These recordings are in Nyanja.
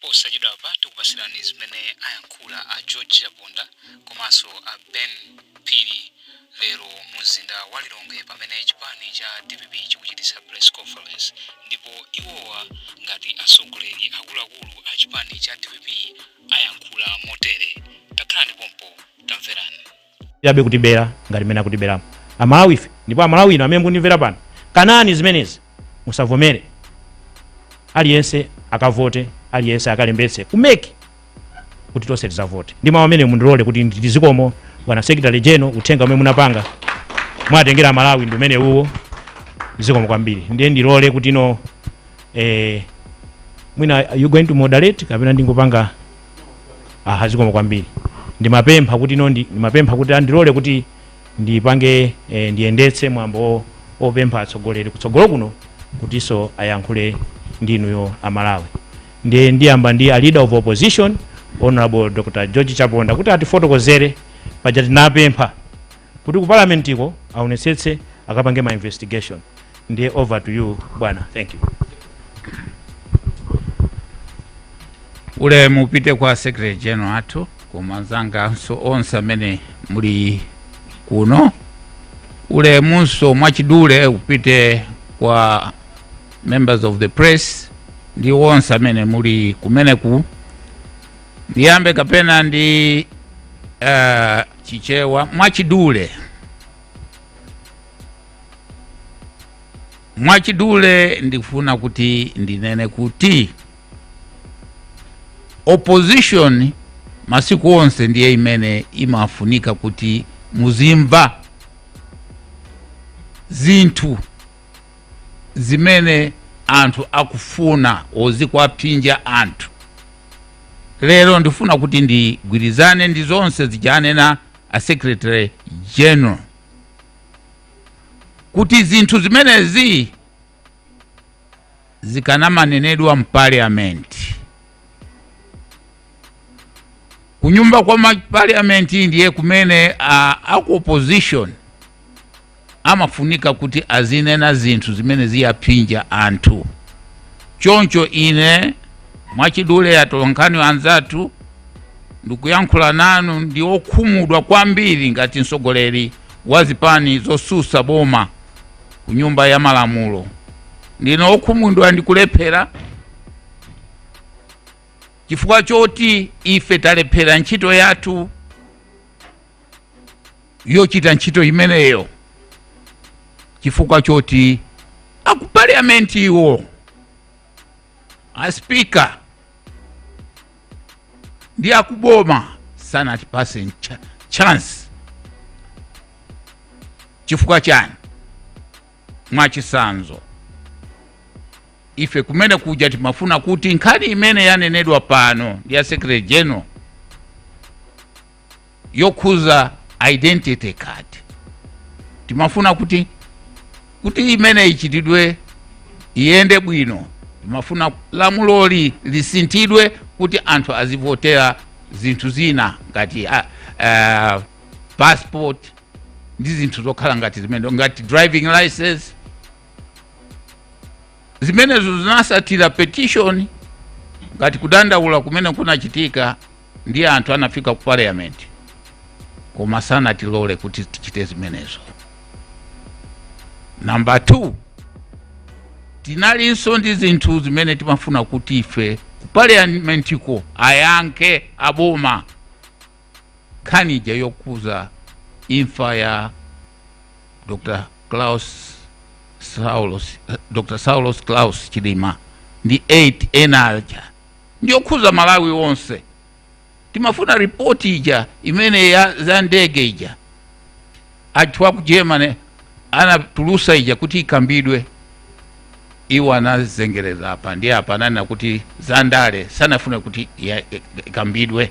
posachedwapa tikupatsirani zimene ayankhula a george chaponda komanso a ben phiri lero mu mzinda wa lilongwe pamene chipani cha dpp chikuchititsa press conference ndipo iwowa ngati atsogoleri akuluakulu a chipani cha dpp ayankhula motere takhalani pompo tamverani yabe kutibera ngati mmene akutiberamu amalawi ife ndipo amalawi ino amene mukundimvera pano kanani zimenezi musavomere aliyense akavote aliyense akalembetse ku mec kuti tonse tizavote ndi mawu amene mundilole kuti nditi zikomo bwana secretary general uthenga umene munapanga mwatengera amalawi ndi umene uwo zikomo kwambiri ndiye ndilole kuti ino eh, mwina you going to moderate kapena ndingopanga aha zikomo kwambiri ndimapempha kuti ino ndi- ndimapempha kuti andilole kuti ndipange eh, ndiyendetse mwambo wo- wopempha atsogoleri kutsogolo kuno kutinso ayankhule ndi inuyo amalawi ndiye ndiyamba ndi a leader of opposition honorable dr george chaponda kuti atifotokozere paja tinapempha kuti ku parliament ko aonetsetse akapange ma investigation ndiye over to you bwana thank you ulemu upite kwa secretary general athu koma anzanganso onse amene muli kuno ulemunso mwachidule upite kwa members of the press ndi onse amene muli kumeneku ndiyambe kapena ndi uh, chichewa mwachidule mwachidule ndikufuna kuti ndinene kuti opposition masiku onse ndiye imene imafunika kuti muzimva zinthu zimene anthu akufuna zikuwaphinja anthu lero ndifuna kuti ndigwirizane ndi zonse zija anena a secretary general kuti zinthu zimenezi zikanamanenedwa mpaliamenti kunyumba kwa mapaliamenti ndiye kumene a aku opposition amafunika kuti azinena zinthu zimene zikuwaphinja anthu choncho ine mwachidule atolonkhani anzathu ndikuyankhula nanu ndi okhumudwa kwambiri ngati mtsogoleri wa zipani zosusa boma ku nyumba ya malamulo ndine okhumudwa ndikulephera chifukwa choti ife talephera ntchito yathu yochita ntchito imeneyo chifukwa choti aku parliament iwo a speaker ndi akuboma sanatipase ncha- chance chifukwa chani mwachisanzo ife kumene kuja timafuna kuti nkhani imene yanenedwa pano ndi ya secretary general yokhuza identity card timafuna kuti kuti imene ichitidwe iyende bwino timafuna lamuloli lisinthidwe kuti anthu azivotera zinthu zina ngati uh, uh, passport ndi zinthu zokhala ngati zimene ngati driving license zimenezo zinatsatira petition ngati kudandaula kumene kunachitika ndi anthu anafika ku parliament koma sanatilole kuti tichite zimenezo number 2 tinalinso ndi zinthu zimene timafuna kuti ife ku parliamentiko ayankhe aboma nkhani ija yokhudza imfa ya dr klaus saulos dr saulos klaus chilima ndi 8 ena aja ndiyokhuza malawi onse timafuna ripoti ija imene za ndege ija anthu aku germany anatulutsa ija kuti ikambidwe iwo anazengereza apa ndi apa ananena kuti za ndale sanafune kuti ikambidwe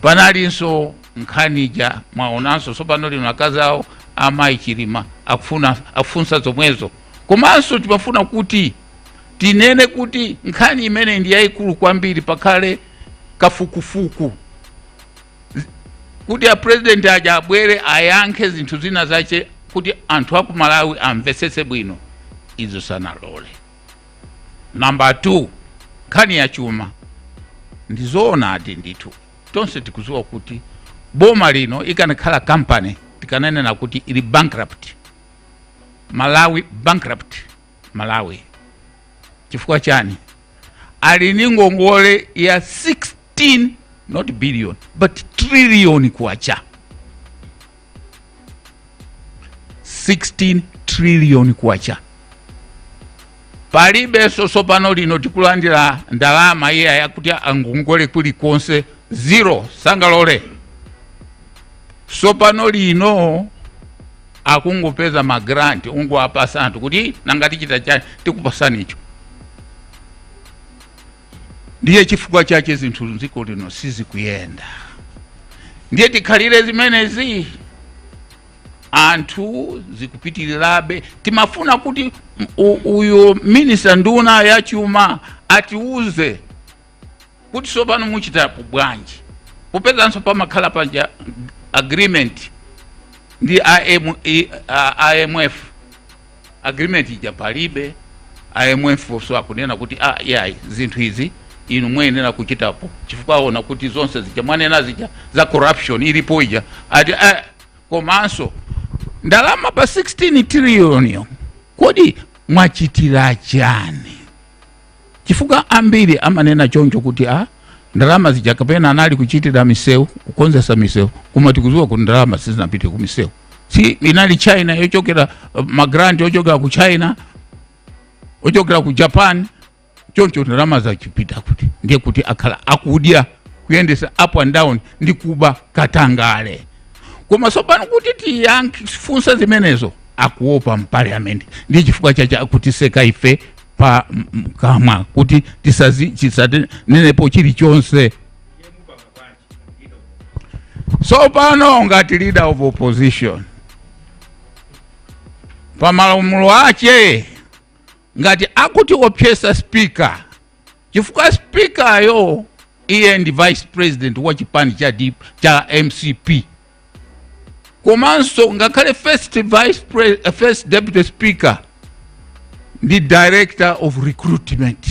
panalinso nkhani ija mwaonanso tsopano lino akazi awo amayi chilima akufunsa zomwezo komanso timafuna kuti tinene kuti nkhani imeneyi ndi yayikulu kwambiri pakhale kafukufuku kuti apurezidenti aja abwere ayankhe zinthu zina zache kuti anthu aku malawi amvetsetse bwino izo sanalole number 2 nkhani ya chuma ndizoonadi ndithu tonse tikudziwa kuti boma lino ikanakhala kampani tikananena kuti ili bankrupt malawi bankrupt malawi chifukwa chani ali ndi ngongole ya 16 not billion but trillion kwacha 16 trillion kwacha palibe so tsopano lino tikulandira ndalama iya yakuti angongole kulikonse zero sangalole tsopano lino akungopeza ma grant kungowapasa anthu kuti nanga tichita chani tikupasani icho ndiye chifukwa chache zinthu mdziko lino sizikuyenda ndiye tikhalire zimenezi anthu zikupitirirabe timafuna kuti u- uyu minista nduna ya chuma atiuze kuti tsopano muchitapo bwanji popezanso pamakhala paja agreement ndi IM, i- a- imf agreement ija palibe imf nso akunena kuti ah, yayi zinthu izi inu muyenera kuchitapo chifukwa aona kuti zonse zija mwanena zija za corruption ilipo ija ati ah, komanso ndalama pa 16 trillion kodi mwachitira chani chifukwa ambiri amanena choncho kuti a ndalama zija kapena anali kuchitira misewu kukonzesa misewu koma tikuziwa kuti ndalama sizinapite ku misewu si inali china yochokera uh, magranti ochokera ku china ochokera ku japan choncho ndalamazi zapita kuti ndiye kuti akhala akudya kuyendesa up and down ndi kuba katangale koma sopano kuti tifunse zimenezo akuopa mpaliamenti ndiye chifukwa chache akutiseka ife pa m- m- kamwa kuti tisazi- tisanenepo chilichonse tsopano ngati leader of opposition pa malamulo ache ngati akutiopyeza speaker chifukwa speakeryo iye ndi vice president wa chipani cha, D- cha mcp komanso ngakhale first vice pre, uh, first deputy speaker ndi director of recruitment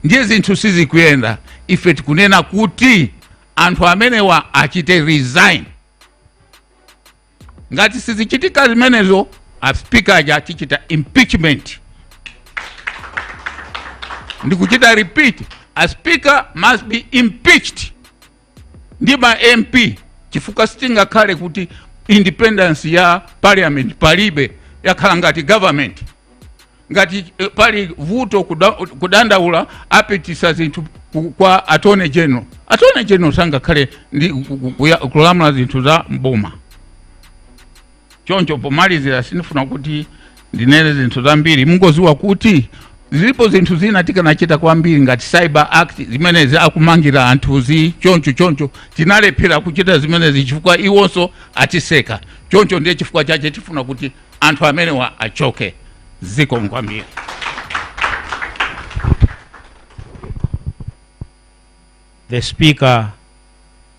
ndiye zinthu sizikuyenda ife tikunena kuti anthu amenewa achite resign ngati sizichitika zimenezo a speaker aja tichita impeachment ndikuchita repeat a speaker must be impeached ndi ma mp chifukwa sitingakhale kuti independence ya parliament palibe yakhala ngati government ngati eh, pali vuto kuda, kudandaula apitisa zinthu ku- kwa attorney general attorney general sangakhale ndi ku- ku- kuya- kulamula zinthu za mboma choncho pomalizira sindifuna kuti ndinene zinthu zambiri mungoziwa kuti zilipo zinthu zina tikanachita kwambiri ngati cyber act zimenezi akumangira anthuzi choncho choncho tinalephera kuchita zimenezi chifukwa iwonso atiseka choncho ndiye chifukwa chache tifuna kuti anthu amenewa achoke zikomo kwambiri the speaker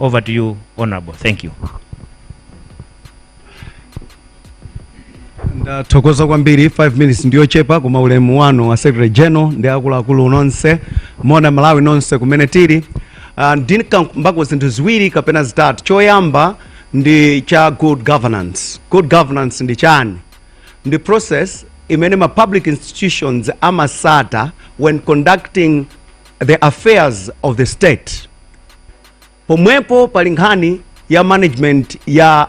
Over to you, Honorable. Thank you. ndathokoza kwambiri 5 minutes ndiyochepa koma ulemu wanu wa secretary general ndi akuluakulu nonse moni Amalawi nonse kumene tili uh, ndikambako zinthu ziwiri kapena zitatu choyamba ndi cha good governance good governance ndi chani ndi process imene ma public institutions amatsata when conducting the affairs of the state pomwepo pali nkhani ya management ya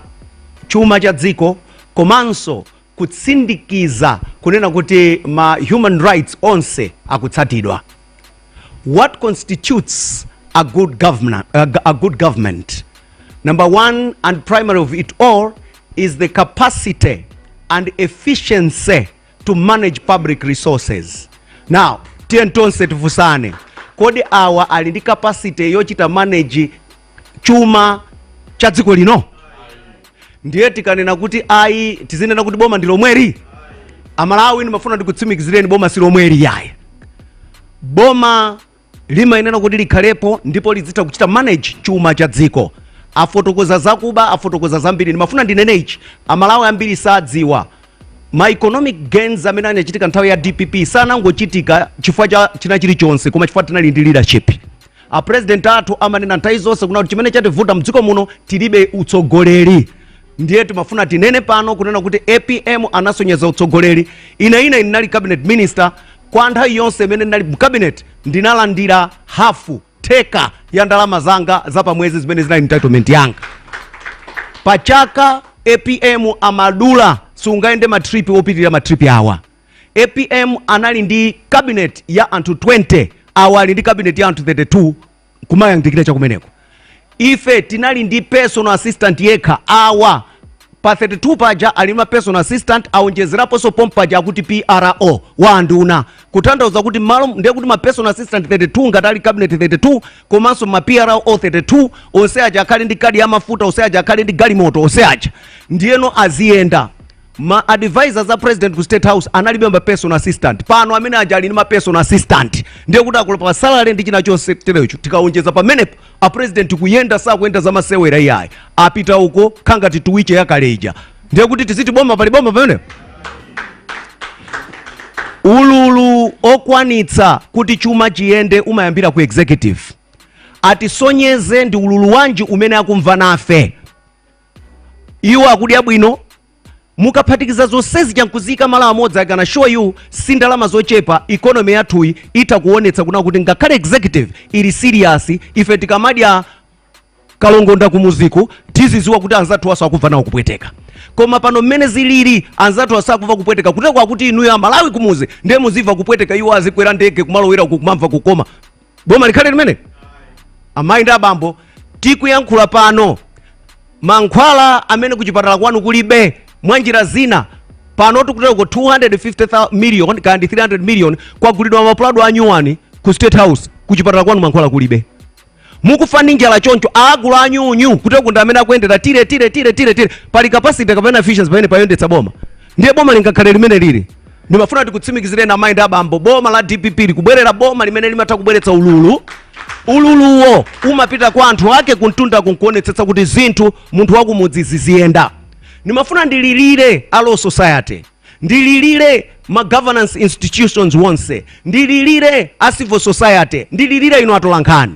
chuma cha dziko komanso kutsindikiza kunena kuti ma human rights onse akutsatidwa what constitutes a good government number one and primary of it all is the capacity and efficiency to manage public resources. Now, tiyeni tonse tifunsane, kodi awa ali ndi capacity yochita manage chuma cha dziko lino? Ndiye tikanena kuti ayi, tizinena kuti boma ndi lomweli? Amalawi ndimafuna ndikutsimikizireni boma si lomweli yayi. Boma limayenera kuti likhalepo ndipo lidzitha kuchita manage chuma cha dziko afotokoza zakuba afotokoza zambiri ndimafuna ndinene ichi amalawi ambiri sadziwa ma economic gains amene anachitika nthawi ya dpp sanangochitika chifukwa cha china chilichonse koma chifukwa tinali ndi leadership a president athu amanena nthawi zonse kunena kuti chimene chativuta mdziko muno tilibe utsogoleri ndiye timafuna tinene pano kunena kuti apm anasonyeza utsogoleri ine ndinali cabinet minister Kwa nthawi yonse imene ndinali mu cabinet ndinalandira hafu theka ya ndalama zanga za pamwezi zimene zinali entitlement yanga pa chaka apm amadula sungayende matripi opitirira matripi awa apm anali ndi cabinet ya anthu 20 awa ali ndi cabinet ya anthu 32 kumayandikira chakumeneko ife tinali ndi personal assistant yekha awa pa 32 paja ali ma personal assistant aonjezeraponso pompaja akuti pro wa anduna kutanthauza kuti mmalo ndiye kuti ma personal assistant 32 ngati ali cabinet 32 komanso ma pro 32 onse aja akhale ndi kadi ya mafuta onse aja akhale ndi galimoto onse aja ndiyeno aziyenda ma advisors a president ku state house analibe ma personal assistant pano amene aja ali ndi ma personal assistant ndiye kuti akulowa pa salary ndi china chonse terecho tikawonjeza pamenepo a president kuyenda sakuyenda za masewera iyayi apita uko kukhala ngati tuwiche yakale ija ndiye kuti tiziti boma pali boma pamene ululu okwanitsa kuti chuma chiyende umayambira ku executive atisonyeze ndi ululu wanji umene akumva nafe iwo akudya bwino mukaphatikiza zonsezi chankuzika malo amodzi I can show you si ndalama zochepa economy yathuyi itha kuonetsa kuna kuti ngakhale executive ili serious ife tikamadya kalongonda kumuziku tiziziwa kuti anzathuwanso akuva nawo kupweteka koma pano mmene zilili anzathuwa sakuva kupweteka kuteroko kuti inuyo amalawi kumuzi ndiye muziva kupweteka iwo azikwera ndege kumalowera uku kumamva kukoma boma likhale limene amayi ndi abambo tikuyankhula pano mankhwala amene kuchipatala kwanu kulibe mwa njira zina pano tikuteroko 250 million kaya ndi 300 million kwagulidwa mapulado anyuwani ku state house kuchipatala kwanu mankhwala kulibe mukufa ndi njala choncho agula anyunyu kuteroko ndi amene akuyendera tire tire tire tire tire pali capacity kapena efficiency pamene payendetsa boma ndiye boma lingakhale limene lili Ndimafuna ndikutsimikizireni amayi ndi abambo, boma la dpp likubwerera boma limene limatha kubweretsa ululu. Ululuwo umapita kwa anthu ake kumtunda kunkuonetsetsa kuti zinthu munthu wakumudzi ziziyenda. Ndimafuna ndililire a Law Society, ndililire ma governance institutions onse, ndililire a civil society, ndililire inu atolankhani.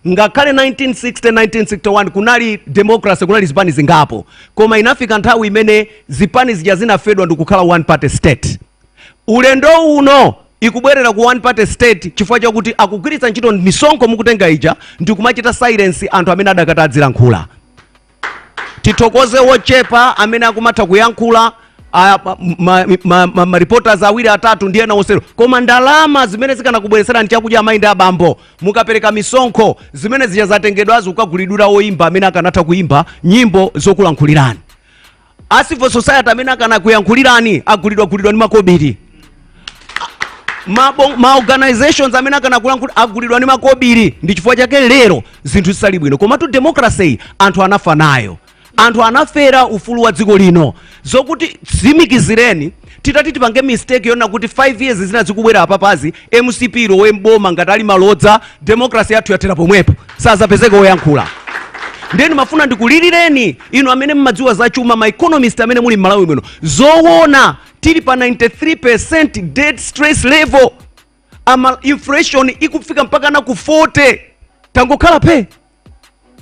ngakhale 1960 1961 kunali democracy kunali zipani zingapo koma inafika nthawi imene zipani zija zinafedwa ndikukhala one party state ulendo uno tikubwerera ku one party state chifukwa chakuti akugwiritsa ntchito misonkho mukutenga ija ndikumachita silence anthu amene adakatha adzilankhula tithokoze wochepa amene akumatha kuyankhula a- ma- ma- ma- ma- ma reporters awiri atatu ndi ena onsewo koma ndalama zimene zikanakubweretserani chakudya amayi ndi abambo mukapereka misonkho zimene zija zatengedwazo kukagulidwira woyimba amene akanatha kuyimba nyimbo zokulankhulirani a civil society amene akanakuyankhulirani agulidwagulidwa ndi makobiri Mabo- ma organizations amene akanakulankhula agulidwa ndi makobiri ndi chifukwa chake lero zinthu zisali bwino komatu democracy iyi anthu anafa nayo anthu anafera ufulu wa dziko lino ndikutsimikizireni Titati tipange mistake yonena kuti 5 years zina zikubwera apapazi mcp ilowe m'boma ngati ali malodza democracy yathu yathera pomwepo sazapezeka woyankhula ndiye ndimafuna ndikulilireni inu amene mmadziwa za chuma ma economist amene muli m'malawi muno zowona tili pa 93 percent debt stress level ama inflation ikufika mpakana ku 40 tangokhala phe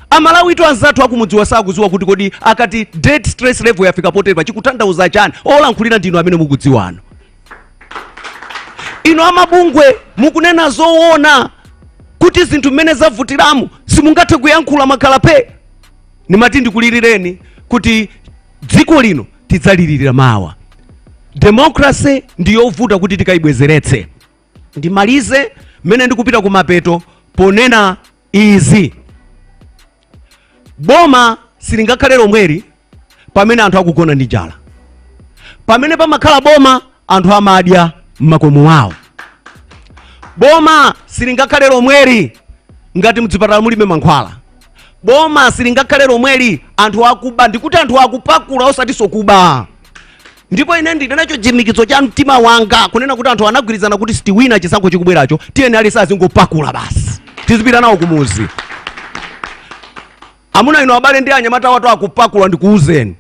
amalawitu anzathu akumudziwa sakudziwa kuti kodi akati debt stress level yafika poterepa chikutanthauza chani olankhulira ndinu amene mukudziwanu inu amabungwe mukunena zoona kuti zinthu mmene zavutiramu simungathe kuyankhula mwakhala phe ndimati ndikulilireni kuti dziko lino tidzalilirira mawa demokrase ndi yovuta kuti tikayibwezeretse ndimalize mmene ndikupita kumapeto ponena izi. Boma silingakhale lomweli pamene anthu akugona ndi njala. Pamene pamakhala boma anthu amadya m'makomo awo. Boma silingakhale lomweli ngati mdzipatala mulibe mankhwala. Boma silingakhale lomweli anthu akuba ndikuti anthu akupakula osatinso kuba. ndipo ine ndili nacho chimikizo cha mtima wanga kunena kuti anthu anagwirizana kuti sitiwina chisankho chikubweracho tiyeni aliyense azingopakula basi tizipita nawo kumuzi amuna ino abale ndi anyamata athu akupakula ndikuuzeni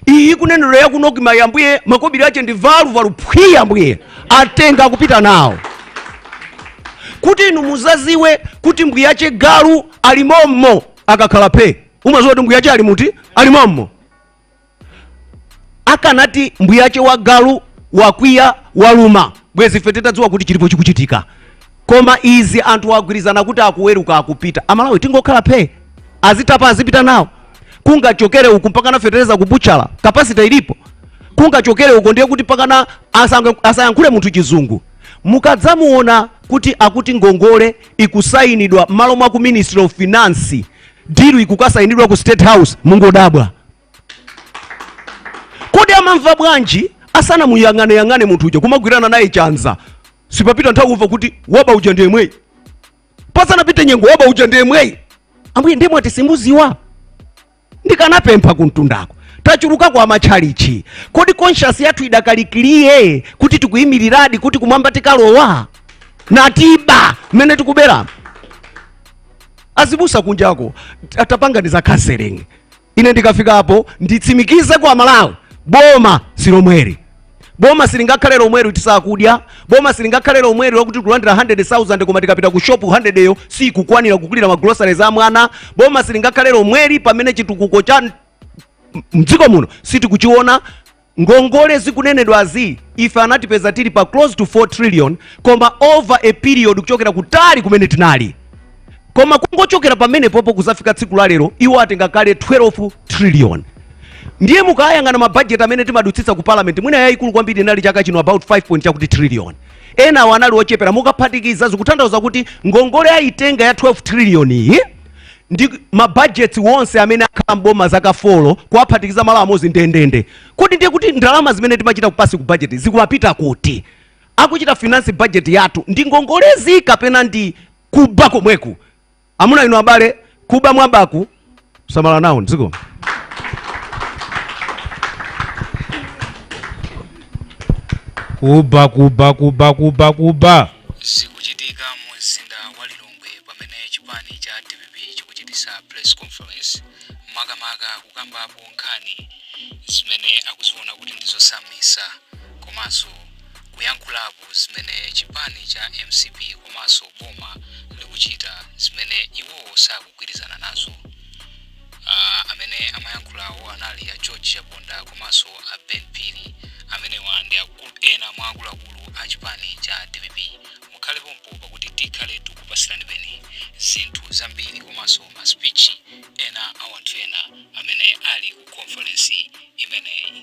iyi kunenero yakuno kimayi ambuye makobiri ache ndi valuvalu phwi ambuye atenga akupita nawo kuti inu muzaziwe kuti mbwiyache galu ali mommo akakhala phe umaziwa kuti mbwiyache ali muti ali mommo akanati mbuyache wa galu wakwiya waluma bwezi ife titadziwa kuti chilipo chikuchitika koma izi anthu agwirizana kuti akuweruka akupita amalawi tingokhala phe azitapa azipita nawo kungachokere uku mpakana fetereza kubutchala capacity ilipo kungachokere uko ndiye kuti mpakana asange- asayankhule munthu chizungu mukadzamuona kuti akuti ngongole ikusayinidwa m'malo mwa ku ministry of finance deal ikukasayinidwa ku state house mungodabwa kodi amamva bwanji asanamuyang'aneyang'ane munthu uja kumagwirana naye chanza sipapita nthawi kumva kuti waba uja ndi yemweyi pasanapite nyengo waba uja ndi yemweyi ambuye ndiye mwati simuziwa ndikanapempha kumtundako tachuluka kumatchalitchi kodi conscience yathu idakalikiliye kuti tikuyimiriradi kuti kumwamba tikalowa natiba mmene tikuberamo azibusa kunjako atapanga za counseling ine ndikafikapo nditsimikize kwa Amalawi boma silomweri boma silingakhale lomweri tisakudya boma silingakhale lomweri lakuti tikulandira 100000 koma tikapita ku shop 100 yo sikukwanira kugulira ma groceries a mwana boma silingakhale lomweri pamene chitukuko cha mdziko muno sitikuchiona Ngongole zikunenedwazi ife anatipeza tili pa close to 4 trillion koma over a period kuchokera kutali kumene tinali koma kungochokera pamenepopo kuzafika tsiku la lero iwo atenga kale 12 trillion ndiye mukayang'ana mabudget amene timadutsitsa ku parliament mwina yayikulu kwambiri inali chaka chino about 5 point chakuti trillion enawo anali ochepera mukaphatikiza zikutanthauza kuti ngongole ayitenga ya 12 trillion iyi ndi mabudget onse amene akhala mboma zaka folo kuwaphatikiza malo amodzi ndendende kodi ndiye kuti ndalama zimene timachita kupasi ku budget zikumapita kuti akuchita finance budget yathu ndi ngongolezi kapena ndi kuba komweku amuna inu abale kuba mwabaku samala nawo dziko kuba kuba kuba kuba kuba lilongwe pamene chipani cha dpp chikuchitisa press conference makamaka kukambapo nkhani zimene akuziona kuti ndizosautsa komanso kuyankhulapo zimene chipani cha mcp komanso boma likuchita zimene iwowo sakugwirizana nazo uh, amene amayankhulawo anali a george chaponda komanso a ben phiri amenewa ndi ena mwa akuluakulu a chipani cha dpp mukhale pompo pakuti tikhale tikupatsiranibe zinthu zambiri komanso ma speech ena a wanthu ena amene ali ku conference imeneyi